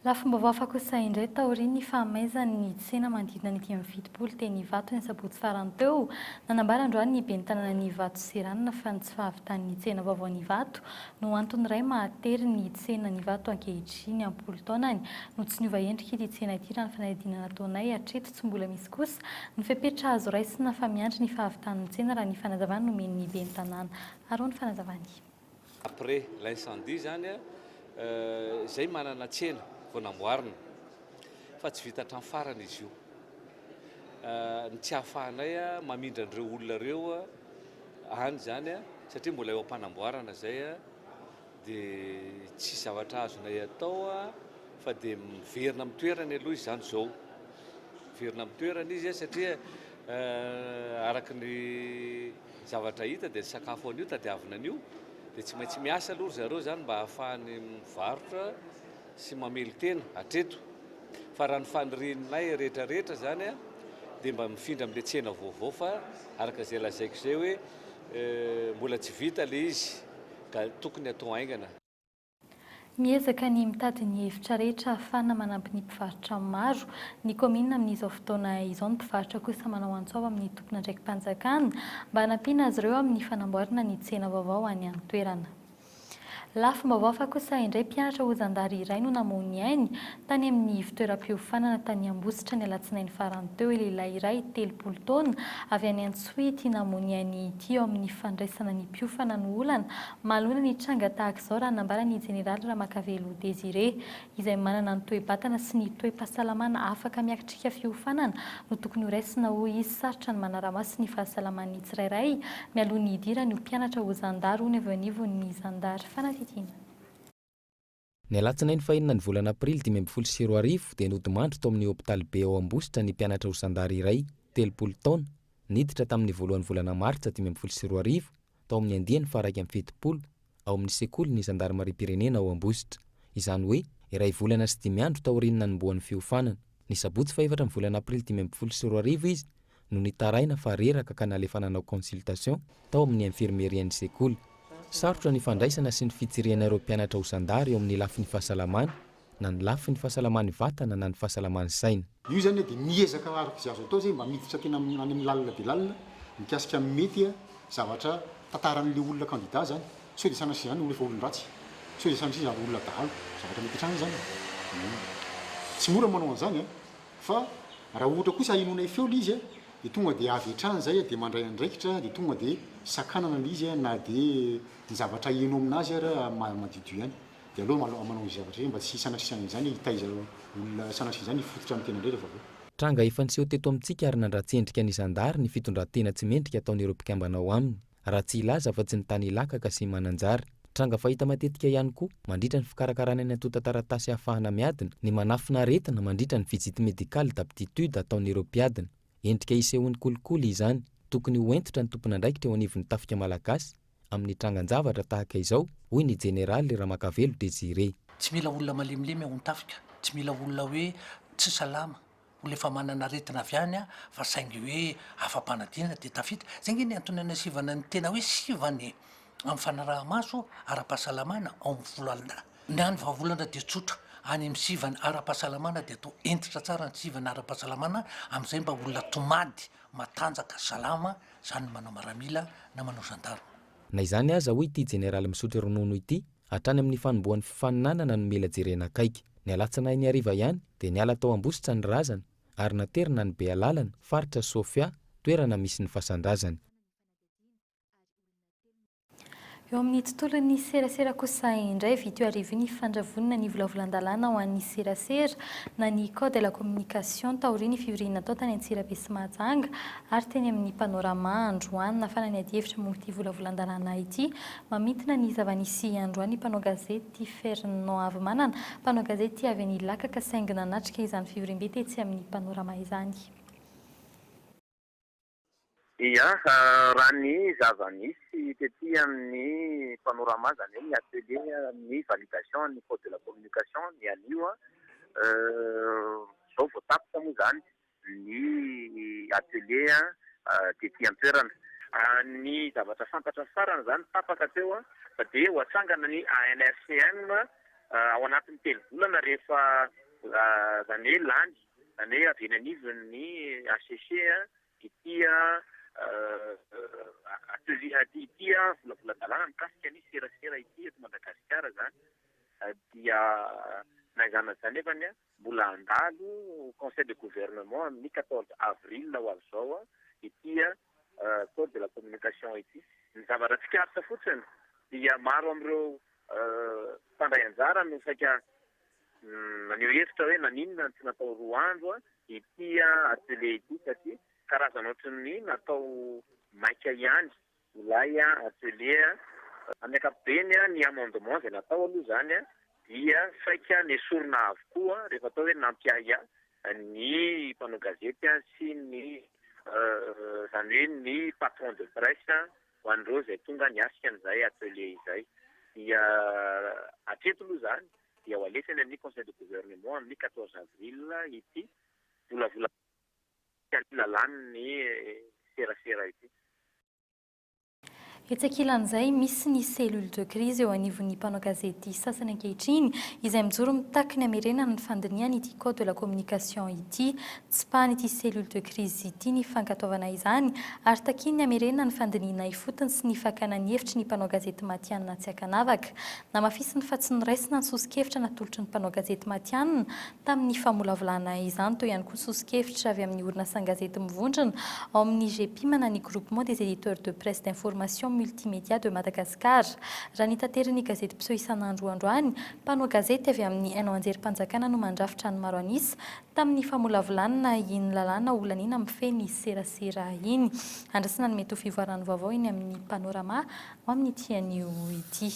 Lafim-baovao hafa kosa indray, taorian'ny fahamaizan'ny tsena manodidina ny dimy amby fitopolo teny Ivato ny sabotsy farany teo, nanambara androany ny ben'ny tanànan'i Ivato sy Ranona fa ny tsy fahavitan'ny tsena vaovaon'Ivato no antony iray mahatery ny tsenan'Ivato ankehitriny am-polo taonany no tsy niova endrika ity tsena ity raha ny fanadihadiana nataonay hatreto tsy mbola misy kosa ny fepetra azo raisina fa miandry ny fahavitan'ny tsena raha ny fanazavana nomen'ny ben'ny tanàna ary ho ny fanazavany après l'incendie zany a zay manana tsena vao namboarina fa tsy vita hatramin'ny farany izy io ny tsy ahafahanay a mamindra an'ireo olona ireo a any zany a satria mbola eo am-panamboarana zay a de tsy zavatra azonay atao a fa de miverina amin'ny toerany aloha izy zany zao miverina amin'ny toerany izy a satria araky ny Zavatra hita dia ny sakafo anio tadiavina anio dia tsy maintsy miasa aloha ry zareo izany mba hahafahany mivarotra sy mamelon-tena hatreto. Fa raha ny fanirianay rehetrarehetra izany dia mba mifindra amin'ilay tsena vaovao fa araka izay lazaiko izay hoe mbola tsy vita ilay izy ka tokony hatao haingana. Miezaka ny mitady ny hevitra rehetra ahafahana manampy ny mpivarotra maro ny kaominina amin'izao fotoana izao ny mpivarotra kosa manao antso avo amin'ny tompon'andraiki-panjakana mba hanampiana azy ireo amin'ny fanamboarana ny tsena vaovao any an-toerana. Lafim-baovao hafa kosa indray mpianatra ho zandary iray no namoha ny ainy Tany amin'ny fitoeram-piofanana tany Ambositra ny alatsinainy farany teo, lehilahy iray telopolo taona avy any Antsohihy namonia an'i Ity eo amin'ny fandraisana ny mpiofana no olana manoloana ny tranga tahaka izao raha nambara ny jeneraly Ramakavelo Désiré izay manana ny toe-batana sy ny toe-pahasalamana afaka miakitrika fiofanana no tokony ho raisina hoy izy sarotra ny manara-maso ny fahasalaman'ny tsirairay mialoha ny hidirany ho mpianatra ho zandary hono avy eo anivon'ny zandary fanadidina Ny alatsinainy fahenina ny volana aprily dimy ambin'ny folo sy roa arivo dia nodimandry tao amin'ny hopitaly be ao Ambositra ny mpianatra ho zandary iray, telopolo taona, niditra tamin'ny voalohan'ny volana martsa dimy ambin'ny folo sy roa arivo tao amin'ny andiany faharaika amby fitopolo ao amin'ny sekolin'ny zandarimariam-pirenena ao Ambositra, izany hoe iray volana sy dimy andro taorian'ny nanombohan'ny fiofanana. Ny sabotsy fahefatra ny volana aprily dimy ambin'ny folo sy roa arivo izy no nitaraina fa reraka ka nalefa nanao consultation tao amin'ny infirmerie ny sekoly. Sarotra ny fandraisana sy ny fitsirihana ireo mpianatra ho zandary eo amin'ny lafiny fahasalamana, na ny lafiny fahasalamany vatana na ny fahasalamany saina. Io izany dia miezaka araka izay azo atao izay mba miditra tena any amin'ny lalina dia lalina mikasika ny mety zavatra tantaran'ilay olona candidat izany. Sao dia sanatria izany olona efa olon-dratsy? Sao dia sanatria izany olona dahalo? Zavatra mety hatrany izany e! Tsy mora ny manao an'izany an! Fa raha ohatra kosa ahenoanay feo lay izy de tonga de avy hatrany zay de mandray andraikitra de tonga de sakanana lay izy na de ny zavatra heno aminazy ary madiodio ihany de aleo malao manao izay zavatra izay mba tsy sanasiana izany hitaiza olona sanasiana izany hifototra amin'ny tenany rehetra vahoaka. Tranga efa niseho teto amintsika ary nandratsy endrika ny zandary ny fitondran-tena tsy mendrika ataon'ireo mpikambana ao aminy. raha tsy hilaza afa tsy ny tany Ilakaka sy Mananjary. Tranga fahita matetika ihany koa mandritra ny fikarakarana ny antontan-taratasy ahafahana miadina ny manafina aretina mandritra ny visite médicale d'aptitude ataon'ireo mpiadina. Endrika isehoan'ny kolikoly izany. Tokony ho hentitra ny tompon'andraikitra eo anivon'ny tafika malagasy amin'ny trangan-javatra tahaka izao, hoy ny Jeneraly Ramakavelo Désiré. Tsy mila olona malemilemy ao an-tafika, tsy mila olona hoe tsy salama olona efa manana aretina avy any fa saingy hoe afa-panadinana dia tafita, zay nge ny antony anasivana ny tena hoe sivana e! amin'ny fanaraha-maso ara-pahasalamana ao amin'ny volo alina. Ny an'ny vahaolana dia tsotra, any amin'ny sivana ara-pahasalamana dia atao hentitra tsara ny sivana ara-pahasalamana amin'izay mba olona tomady, matanjaka, salama, izany ny manao maramila na manao gendarme. Na izany aza, hoy ity jeneraly misotro ronono ity, hatrany amin'ny fanombohan'ny fifaninanana nomela jerena akaiky. Ny alatsinainy hariva ihany dia niala tao Ambositra ny razana ary naterina any Bealalana, faritra Sofia, toerana misy ny fasan-drazany. Eo amin'ny tontolon'ny serasera kosa indray, vy teo hariva io ny fandravonana ny volavolan-dalàna ho an'ny serasera na ny code de la communication taorian'ny fivoriana natao tany Antsirabe sy Mahajanga ary teny amin'ny Panorama androany. Nafana ny adihevitra momba ity volavolan-dalàna ity Mamintina ny zava-nisy androany mpanao gazety Fernand Havimanana, mpanao gazety avy any Ilakaka saingy nanatrika izany fivoriambe tetsy amin'ny Panorama izany. Ia, raha ny zava-nisy tety amin'ny Panorama izany hoe ny atelier ny validation an'ny code de la communication ny anio, izao vao tapitra moa izany. Ny atelier tety an-toerana. Ny zavatra fantatra farany izany tapaka teo fa dia ho atsangana ny ANRCM ao anatin'ny telo volana rehefa izany hoe lany, izany hoe avy eny anivon' ny HCC ity atelier ity, ity volavolan-dalàna mikasika ny serasera ity eto Madagasikara izany dia na izany na izany nefany. Mbola handalo conseil de gouvernement amin'ny quatorze avril ho avy izao ity code de la communication ity. Ny zavatra tsikaritra fotsiny dia maro amin'ireo mpandray anjara no saika naneho hevitra hoe naninona no tsy natao roa andro ity atelier ity satria karazana ohatry ny natao maika ihany Milay atelier a! Amin'ny ankapobeny a, ny amendement izay natao aloha izany a, dia saika nesorina avokoa rehefa atao hoe nampiahiahy ny mpanao gazety a sy ny izany hoe ny patron de presse ho an'ireo izay tonga niatrika an'izay atelier izay. Dia hatreto aloha izany dia ho alefa eny amin'ny conseil de gouvernement amin'ny quatorze avril ity volavolan-. tsy alina lany ny serasera ity. Etsy ankilan'izay, misy ny cellule de crise eo anivon'ny mpanao gazety sasany ankehitriny, izay mijoro mitaky ny hamerenana ny fandinihana ity code de la communication ity. Tsipahan'ity cellule de crise ity ny fankatoavana izany ary takiany ny hamerenana ny fandinihina ifotony sy ny fakana ny hevitry ny mpanao gazety matihanina tsy ankanavaka. Namafisiny fa tsy noraisina ny soso-kevitra natolotry ny mpanao gazety matihanina Tamin'ny famolavolana izany, teo ihany koa ny soso-kevitra avy amin'ny orinasan-gazety mivondrona ao amin'ny GEPIMANA ny Groupement des Editeurs de Presse d'Information Multimédia de Madagascar. Raha ny taterin'ny gazety mpiseho isan'andro androany, mpanao gazety avy amin'ny haino an-jerim-panjakana no mandrafitra ny maro an'isa tamin'ny famolavolanna iny lalàna holaniana mifehy ny serasera iny. Andrasana ny mety ho fivoaran'ny vaovao eny amin'ny Panorama amin'ity anio ity.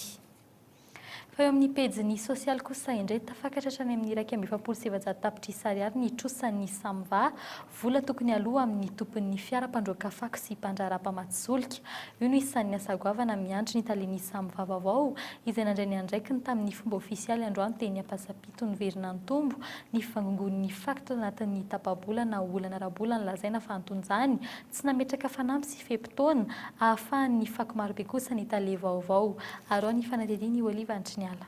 Fa eo amin'ny pejin'ny sosialy kosa indray, tafakatra hatrany amin'ny iraika amby efapolo sy efajato tapitrisa ariary ny trosan'ny Samva, vola tokony aloa amin'ny tompon'ny fiara mpandroaka fako sy mpandraharaha mpamatsy solika. Io no isan'ny asa goavana miandry ny talen'ny Samva vaovao, izay nandray ny andraikiny tamin'ny fomba ofisialy androany teny Ampasampito Noverina-Antombo ny fivangongoan'ny fako tao anatin'ny tapa-bola na olana ara-bola nolazaina fa antonjany Tsy nametraka fanamby sy fe-potoana ahafahan'ny fako marobe kosa ny tale vaovao. Arao ny fanadihadian'i Olive Antriniala.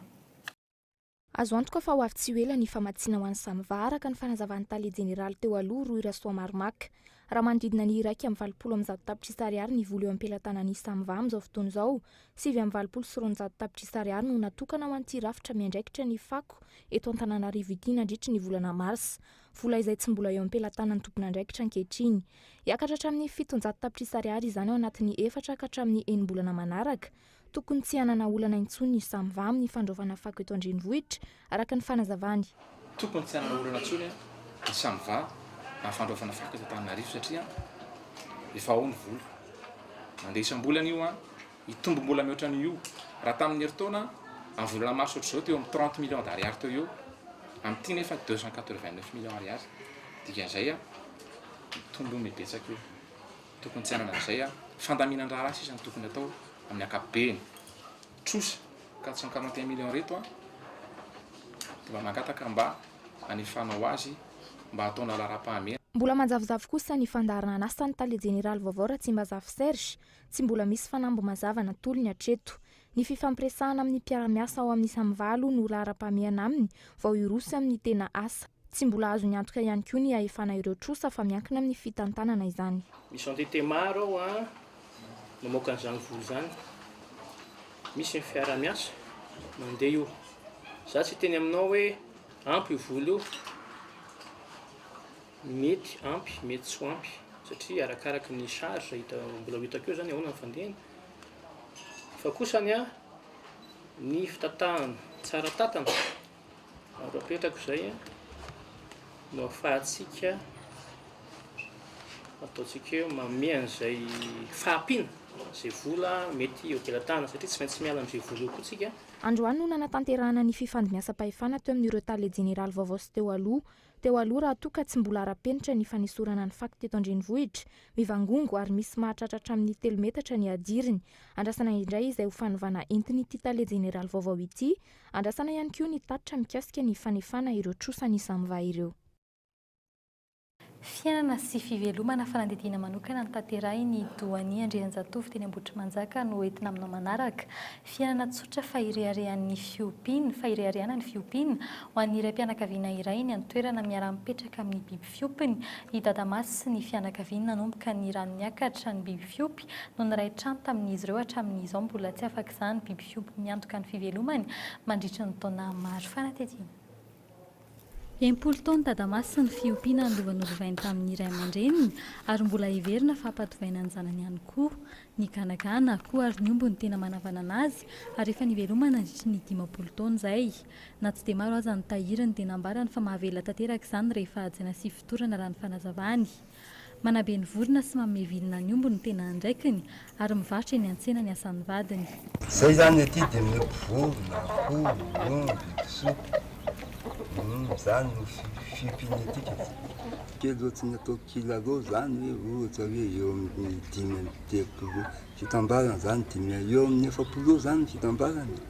Azo antoka fa ho avy tsy ho ela ny famatsiana ho an'i Samva, araka ny fanazavan'ny tale jeneraly teo aloha, Rohy Rasoamaromaka. Raha manodidina ny iraika amby valopolo amby zato tapitrisa ariary ny vola eo am-pelatanan'i Samva amin'izao fotoana izao, sivy amby valopolo sy roanjato tapitrisa ariary no natokana ho an'ity rafitra miandraikitra ny fako eto Antananarivo ity nandritry ny volana marsa. vola izay tsy mbola eo am-pelatanan'ny tompon'andraikitra ankehitriny. Hiakatra hatramin'ny fitonjato tapitrisa ariary izany ao anatin'ny efatra ka hatramin'ny enim-bolana manaraka. Tokony tsy hanana olana intsony ny SAMVA amin'ny fandraofana fako eto an-drenivohitra, araka ny fanazavany. Tokony tsy hanana olana intsony ny SAMVA amin'ny fandraofana fako eto Antananarivo satria efa ao ny vola. Mandeha isam-bolana io. Hitombo mbola mihoatra an'io. Raha tamin'ny herintaona, amin'ny volana marsa hoatr'izao teo amin'ny trente millions d'ariary teo ho eo, amin'ity nefa deux cent quatre vingt neuf millions ariary. Dikan'izay, mitombo mibetsaka io. Tokony tsy hanana an'izay. Fandaminan-draharaha sisa no tokony atao amin'ny ankapobeny. Trosa quatre cent quarante et un millions ireto dia mba mangataka mba hanefanao azy mba hataonao laharam-pahamehana. Mbola manjavozavo kosa ny fandaharan'asan'ny tale jeneraly vaovao Ratsimbazafi Serge, Tsy mbola misy fanamby mazava natolony hatreto. Ny fifampiresahana amin'ny mpiara-miasa ao amin'ny Samva aloha no laharam-pahamehana aminy vao hiroso amin'ny tena asa. Tsy mbola azony antoka ihany koa ny hahefana ireo trosa fa miankina amin'ny fitantanana izany. Misy entité maro ao an mamoaka an'izany vola izany. Misy ny fiarahamiasa mandeha io. Za tsy hiteny aminao hoe ampy io vola io. Mety ampy, mety tsy ho ampy satria arakaraka ny charge hita mbola ho hitako eo zany ahoana ny fandehany. Fa kosa ny ahy, ny fitatahana tsara tatana ary apetrako izay no afahantsika ataontsika hoe manome an'izay fahampiana izay vola mety ho ampelatanana satria tsy maintsy miala amin'izay vola eo koa tsika. Androany no nanatanterahana ny fifandimbiasam-pahefana teo amin'ireo Tale Jeneraly vaovao sy teo aloha. Teo aloha raha toa ka tsy mbola ara-penitra ny fanesorana ny fako teto an-drenivohitra, mivangongo ary misy mahatratra hatramin'ny telo metatra ny hadiriny. Andrasana indray izay ho fanovana entin'ity Tale jeneraly vaovao ity. Andrasana ihany koa ny tatitra mikasika ny fanefana ireo trosa nisamva ireo. Fiainana sy fivelomana fanadihadiana manokana notanterahiny Doanie Andrianjatovo teny Ambohitrimanjaka no ho entina aminao manaraka. Fiainana tsotra fa ireharehan'ny fiompiana, fa ireharehana ny fiompiana. Ho an'ny raim-pianakaviana iray ny an-toerana miara-mipetraka amin'ny biby fiompiny. I Dadamasy sy ny fianakaviany nanomboka ny rano niakatra ny biby fiompy no niray trano tamin'izy ireo hatramin'izao mbola tsy afak'izany biby fiompy miantoka ny fivelomany mandritra ny taona maro. Fanatetiana. Enimpolo taona tadamasy ny fiompiana an'lova nolovainy tamin'ny ray aman-dreniny ary mbola heverina fa hampatovaina ny zanany ihany koa. Ny ganagana, koa ary ny omby no tena manavanana azy ary efa nivelomany nandritry ny dimampolo taona izay. Na tsy dia maro aza ny tahiry ny dia nambarany fa mahavela tanteraka izany rehefa hajaina sy fotorana raha ny fanazavany. Manabe ny vorona sy manome vilona ny omby no tena andraikiny ary mivarotra eny an-tsena ny asan'ny vadiny. Izay izany ety dia miompy vorona, akoho, omby, kisoka. Izany no fiompiany ety ka tsy. Kely ohatry ny atao kilalao izany hoe ohatra hoe eo amin'ny dimy amby telopolo fitambarany izany, dimy, eo amin'ny efapolo eo izany ny fitambarany e.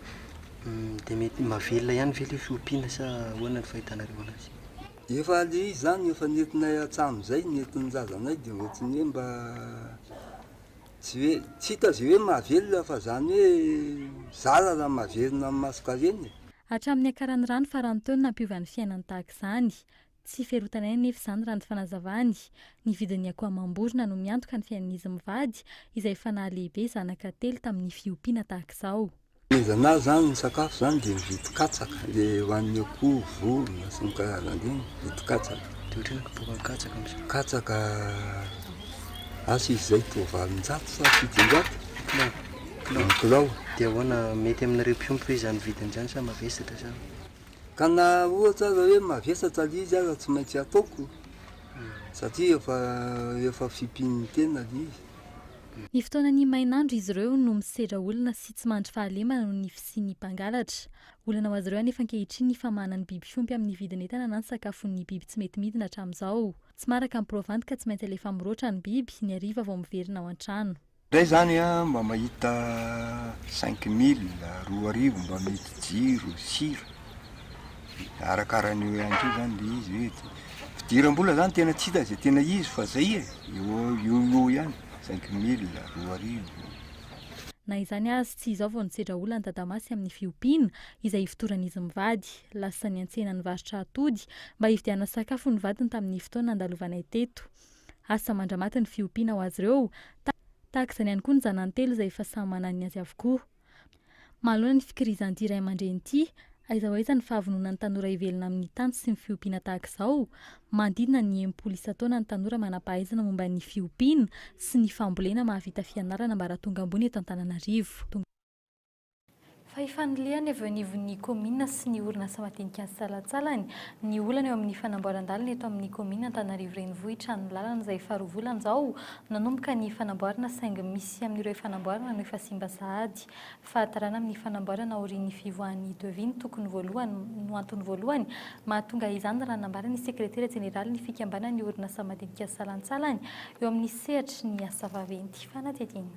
Dia mety mahavelona ihany ve ilay fiompiana sa ahoana ny fahitanareo an'azy? Efa le izy zany efa nentinay hatsamin zay nentin'ny razanay de ohatriny hoe mba tsy hoe tsy hita ze hoe mahavelona fa zany hoe zara raha maverina amin'ny maso karena e. Hatramin'ny niakaran'ny rano faran'ny taona nampiova ny fiainany tahaka izany. Tsy ferotanay anefa izany raha ny fanazavany. Ny vidin'ny akoho amam-borona no miantoka ny fiainan'izy mivady izay efa nahalehibe zanaka telo tamin'ny fiompiana tahaka izao. Taiza na zany ny sakafo zany dia mividy katsaka le ho an'ny akoho, vorona sy ny karazany reny mividy katsaka. Dia ohatry ny kiboran'ny katsaka amin'izao. Katsaka asa izy izay toa valonjato sa fitonjato Kilao. ny kilao. Dia ahoana, mety amin'ireo mpiompy ve izany vidiny izany sa mavesatra sa? Ka na ohatra aza hoe mavesatra le izy aza tsy maintsy ataoko satria efa efa fimpin'ny tena le izy. Ny fotoanan'ny mainandro izy ireo no misedra olona sy tsy mandry fahalemana noho ny fisian'ny mpangalatra. Olana ho azy ireo anefa ankehitriny ny famahana ny biby fiompy amin'ny vidin'entana na ny sakafon'ny biby tsy mety midina hatramin'izao. Tsy maraka ny provandy ka tsy maintsy alefa miroatra ny biby, ny hariva vao miverina ao an-trano. Zay zany a mba mahita cinq mille, roa arivo mba mihidy jiro, sira. arakara an'io ihany koa zany le izy hoe fidiram-bola zany tena tsy hita zay tena izy fa zay e, eo eo eo ihany, cinq mille, roa arivo. Na izany aza, tsy izao vao nisedra olana Dadamasy amin'ny fiompiana, izay ifotoran'izy mivady. Lasa niantsena nivarotra atody, mba hividianana sakafo ny vadiny tamin'ny fotoana nandalovanay teto. Asa mandra-maty ny fiompiana ho azy ireo, tahaka izany ihany koa ny zanany telo izay efa samy manana ny azy avokoa. Manoloana ny fikirizan'ity ray aman-dreny ity, aiza ho aiza ny fahavononan'ny tanora hivelona amin'ny tany sy ny fiompiana tahaka izao? Manodidina ny enimpolo isan-taona ny tanora manam-pahaizana momba ny fiompiana sy ny fambolena mahavita fianarana ambaratonga ambony eto Antananarivo. Fa ifanilihany avy eo anivon'ny kaominina sy ny orinasa madinika ny salantsalany ny olana eo amin'ny fanamboaran-dalana eto amin'ny kaominina Antananarivo Renivohitra ny lalana izay faharoa volana izao Nanomboka ny fanamboarana saingy misy amin'ireo efa namboarina no efa simba sahady. Fahatarana amin'ny fanamboarana aorian'ny fivoahan'ny devis no tokony voalohany no antony voalohany mahatonga izany raha nambaran'ny sekretera jeneralin'ny fikambanan'ny orinasa madinika salantsalany eo amin'ny sehatry ny asa vaventy fanadihadiana.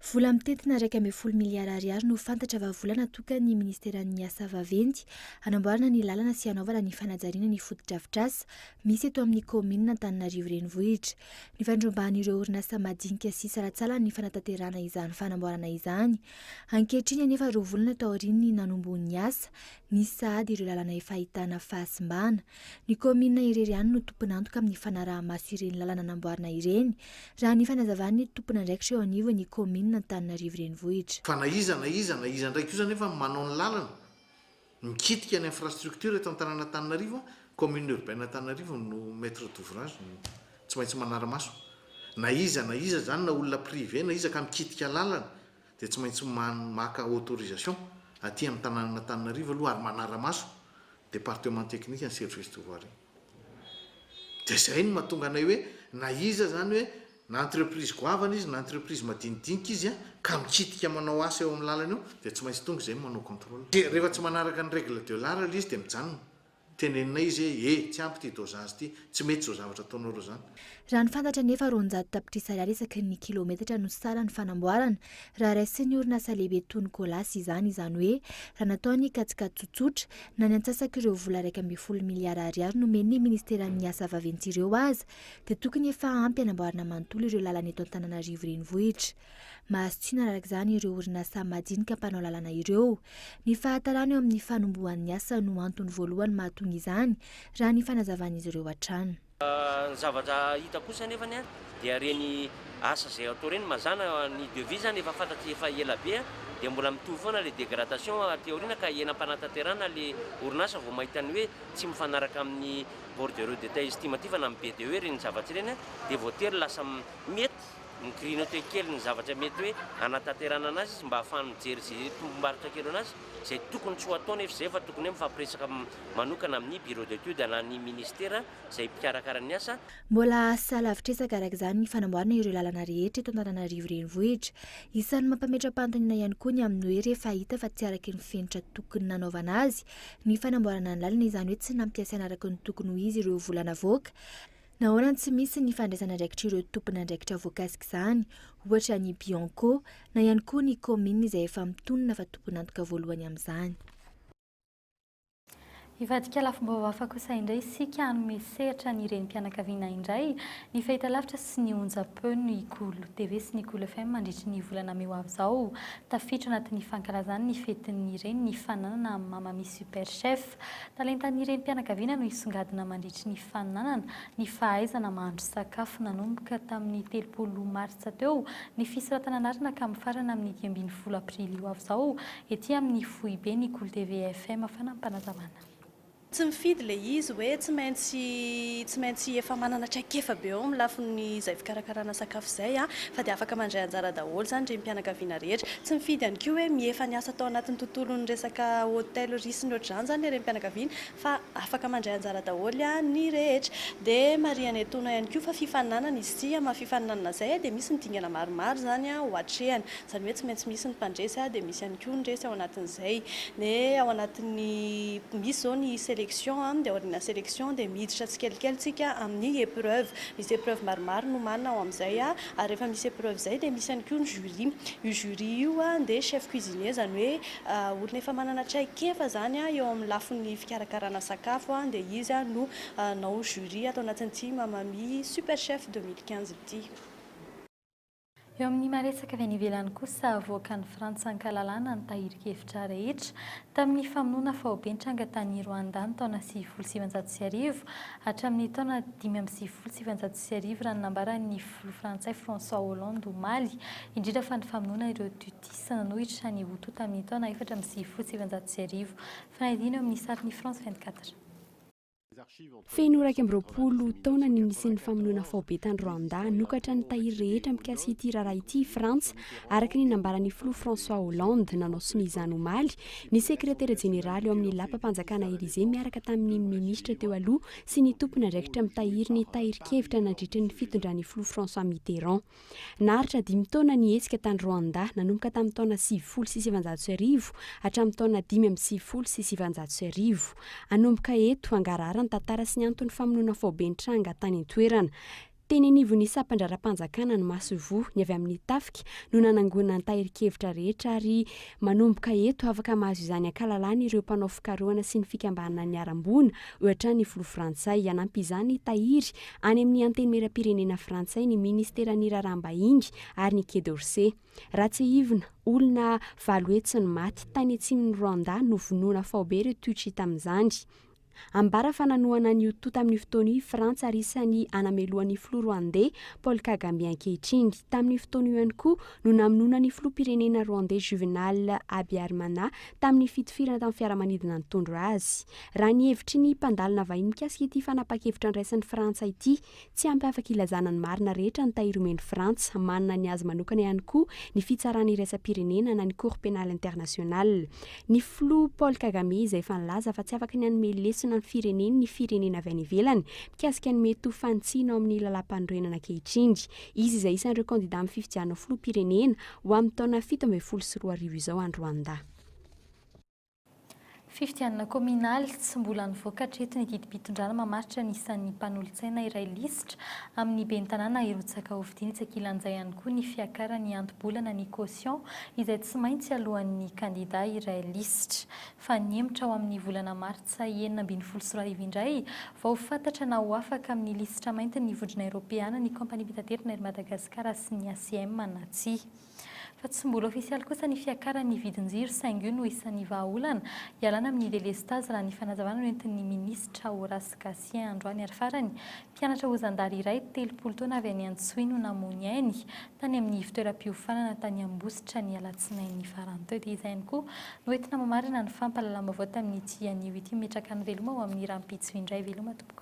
Vola mitentina iraika ambin'ny folo miliara ariary no fantatra fa vola natokan'ny Ministeran'ny Asa vaventy hanamboarana ny lalana sy hanaovana ny fanajariana ny fotodrafitrasa misy eto amin'ny kaominina Antananarivo Renivohitra. Nifandrombahan'ireo orinasa madinika sy salatsalany ny fanatanterahana izany fanamboarana izany. Ankehitriny anefa roa volana taorian'ny nanombohan'ny asa, nisy sahady ireo lalana efa ahitana fahasimbana. Ny kaominina irery ihany no tompon'antoka amin'ny fanaraha-maso ireny lalana namboarina ireny, raha ny fanazavan'ny tompon'andraikitra eo anivon'ny kaominina Antananarivo Renivohitra. Fa na iza na iza, na iza indray kosa anefa no manao ny lalana, mikitika ny infrastructure eto an-tanàn'Antananarivo, Commune Urbaine Antananarivo no maitre d'ouvrage, no tsy maintsy manara-maso. Na iza na iza izany, na olona privé na iza ka mikitika lalana, dia tsy maintsy maka autorisation aty amin'ny tanànan'Antananarivo aloha ary manara-maso département technique an'i Service de voirie. Dia izay no mahatonga anay hoe na iza izany hoe na entreprise goavana izy na entreprise madinidinika izy ka mikitika manao asa eo amin'ny lalana eo dia tsy maintsy tonga izay manao contrôle. Dia rehefa tsy manaraka ny règle de l'art ilay izy dia mijanona. Teneninay izy hoe, E! tsy ampy ity dozazy ity, tsy mety izao zavatra ataonareo izany. Raha ny fantatra anefa, roanjato tapitrisa ariary isaky ny kilaometatra no saran'ny fanamboarana, raha raisin'ny orinasa lehibe toa ny Colas izany, izany hoe, raha natao ny kajikajy tsotsotra, na ny antsasak'ireo vola iraika ambin'ny folo miliara ariary nomen'ny Ministeran'ny Asa Vaventy ireo aza, dia tokony efa ampy hanamboarana manontolo ireo lalana eto Antananarivo Renivohitra. Mahasitrina araka izany ireo orinasa madinika mpanao lalana ireo. Ny fahatarana eo amin'ny fanombohan'ny asa no antony voalohany mahatonga izany, raha ny fanazavan'izy ireo hatrany. Ny zavatra hita kosa anefa dia ireny asa izay atao ireny mazàna, ny devis izany efa fantatra efa ela be dia mbola mitohy foana ilay dégradation aty aoriana ka eny am-panatanterahana ilay orinasa vao mahita ny hoe tsy mifanaraka amin'ny bordereau d'état estimatif na amin'ny BDE ireny zavatra ireny dia voatery lasa mety Ni-grignoter kely ny zavatra mety hoe hanatanterahana anazy izy mba hahafahany mijery izay tombom-barotra kely ho anazy, izay tokony tsy ho atao nefa izay fa tokony hoe mifampiresaka manokana amin'ny Bureau d'Etudes na ny Ministera izay mpikarakara ny asa. Mbola asalahavitresaka araka izany ny fanamboarana ireo lalana rehetra eto Antananarivo Renivohitra. Isan'ny mampametra-panontaniana ihany koa ny amin'ny hoe rehefa hita fa tsy araky ny fenitra tokony nanaovana azy ny fanamboarana ny lalana izany hoe tsy nampiasaina araky ny tokony ho izy ireo vola navoaka Nahoana tsy misy ny fandraisan'andraikitr'ireo tompon'andraikitra voakasik'izany, ohatra ny Bianco, na ihany koa ny kaominina izay efa mitonona fa tompon'antoka voalohany amin'izany? Hivadika lafim-baovao hafa kosa indray isika, hanome sehatra ny renim-pianakaviana indray, ny fahitalavitra sy ny onjam-peo, ny Cool TV sy ny Cool FM mandritry ny volana mey ho avy izao. Tafiditra anatin'ny fankalazany ny fetin'ny reny ny fananana an'i Mamami Super Chef. Talentan'ny renim-pianakaviana no hisongadina mandritry ny faninanana, ny fahaizana mahandro sakafo nanomboka tamin'ny telopolo martsa teo, ny fisoratana anarana ka mifarana amin'ny dimy ambin'ny folo aprily ho avy izao, ety amin'ny foibe ny Kolo TV FM Fanampanazavana. Tsy mifidy ilay izy hoe tsy maintsy tsy maintsy efa manana traikefa be ao amin'ny lafin'izay fikarakarana sakafo izay fa dia afaka mandray anjara daholo izany renim-pianakaviana rehetra. Tsy mifidy ihany koa hoe mihefa ny asa tao anatin'ny tontolon'ny resaka hôtellerie sy ny ohatr'izany izany ilay renim-pianakaviana fa afaka mandray anjara daholo ny rehetra. Dia marihana etoana ihany koa fa fifaninanana izy ity, amin'ny maha fifaninanana izay dia misy ny dingana maromaro izany ho atrehana. Izany hoe tsy maintsy misy ny mpandresy dia misy ihany koa ny resy ao anatin'izay. Ny ao anatin'ny, misy izao ny sélection, dia aorianà sélection dia miditra tsikelikely isika amin'ny épreuve. Misy épreuve maromaro nomanina ao amin'izay. ary rehefa misy épreuve zay dia misy ihany koa ny jury, io jury io dia chef cuisinier izany hoe olona efa manana traikefa zany eo amin'ny lafiny fikarakarana sakafo dia izy no hanao jury ato anatin'ity mamami super chef deux mille quinze ity. Eo amin'ny maha-resaka avy any ivelany kosa, avoakan'i Frantsa an-kalalahana ny tahirin-kevitra rehetra tamin'ny famonoana faoben-tranga tany Rwanda ny taona sivifolo sy sivinjato sy arivo hatramin'ny taona dimy amby sivifolo sy sivinjato sy sy arivo raha ny nambaran'ny filoha frantsay François Hollande omaly, indrindra fa ny famonoana ireo Tutsis nanohitra ny Hutu tamin'ny taona efatra amby sivifolo sy sivinjato sy arivo. Fanadino eo amin'ny sarin'i France vingt quatre. Feno iraika amby roapolo taona ny nisian'ny famonoana faobe tany Rwanda. Hanokatra ny tahiry rehetra mikasika ity raharaha ity i Frantsa, araka ny nambaran'ny filoha François Hollande, nanao sonia izany omaly, ny sekretera jeneraly ao amin'ny lapam-panjakana Elysée miaraka tamin'ny minisitra teo aloha sy ny tompon'andraikitra mitahiry ny tahirin-kevitra nandritry ny fitondran'ny filoha François Mitterrand. Naharitra dimy taona ny hetsika tany Rwanda, nanomboka tamin'ny taona sivifolo sy sivinjato sy arivo hatramin'ny taona dimy amby sivifolo sy sivinjato sy arivo. Hanomboka eto, hangarahara ny tantara sy ny anton'ny famonoana faobe nitranga tany an-toerana. Teny anivon'ny sampandraharaham-panjakana ny masoivoho ny avy amin'ny tafika no nanangonana ny tahirin-kevitra rehetra ary manomboka eto afaka mahazo izany ankalalany ireo mpanao fikarohana sy ny fikambanana niharam-boina ohatra ny filoha frantsay. Hanampy izany tahiry any amin'ny antenimieram-pirenena frantsay ny minisiteran'ny raharaham-bahiny ary ny Quai d'Orsay. Raha tsiahivina, olona valo hetsy no maty tany atsimon'i Rwanda novonoina faobe ireo Tutshi tamin'izany. Ambara fa nanohana an'i Hutu tamin'io fotoana io i Frantsa ary isan'ny anamelohan'ny filoha Rwandey Paul Kagame ankehitriny. Tamin'io fotoana io ihany koa no namonoana ny filoham-pirenena Rwandey Juvenal Habyarimana tamin'ny fitifirana tamin'ny fiaramanidina nitondra azy. Raha ny hevitry ny mpandalina vahiny mikasika ity fanapahan-kevitra niraisin'i Frantsa ity, Tsy ampy afaka ilazana ny marina rehetra ny tahiry omen'i Frantsa. Manana ny azy manokana ihany koa ny Fitsarana Iraisam-pirenena na ny Cour Pénale Internationale. Ny Filoha Paul Kagame izay efa nilaza fa tsy afaka ny hanome lesona ny fireneny ny firenena avy any ivelany mikasika ny mety ho fanitsiana ao amin'ny Lalàmpanorenana ankehitriny. Izy izay isan'ireo kandidà amin'ny fifidianana ho Filoham-pirenena ho amin'ny taona fito ambin'ny folo sy roa arivo izao any Rwanda. Fifidianana kaominaly, tsy mbola nivoaka hatreto ny didim-pitondrana mamaritra ny isan'ny mpanolotsaina iray lisitra amin'ny ben'ny tanàna hirotsaka hofidiana etsy ankilan'izay ihany koa ny fiakaran'ny hanto-bolana ny caution izay tsy maintsy aloan'ny kandida iray lisitra fa nihemotra ao amin'ny volana martsa enina ambin'ny folo sy roa arivo indray vao ho fantatra na ho afaka amin'ny lisitra maintin'ny vondrona eropeana ny kaompaniam-pitaterana ery madagasikara sy ny acm na tsia. fa tsy mbola ofisialy kosa ny fiakaran'ny vidin-jiro saingy io no isan'ny vahaolana ialana amin'ny delestazy raha ny fanazavana noentin'ny minisitra Horace Gatien androany ary farany mpianatra ho zandary iray telopolo taona avy any Antsohihy no namoy ainy tany amin'ny fitoeram-piofanana tany Ambositra ny alatsinainy farany teo dia izay ihany koa no entina mamarana ny fampahalalam-baovao tamin'ity anio ity mimetraka ny veloma ho amin'ny rahampitso indray veloma tompoko.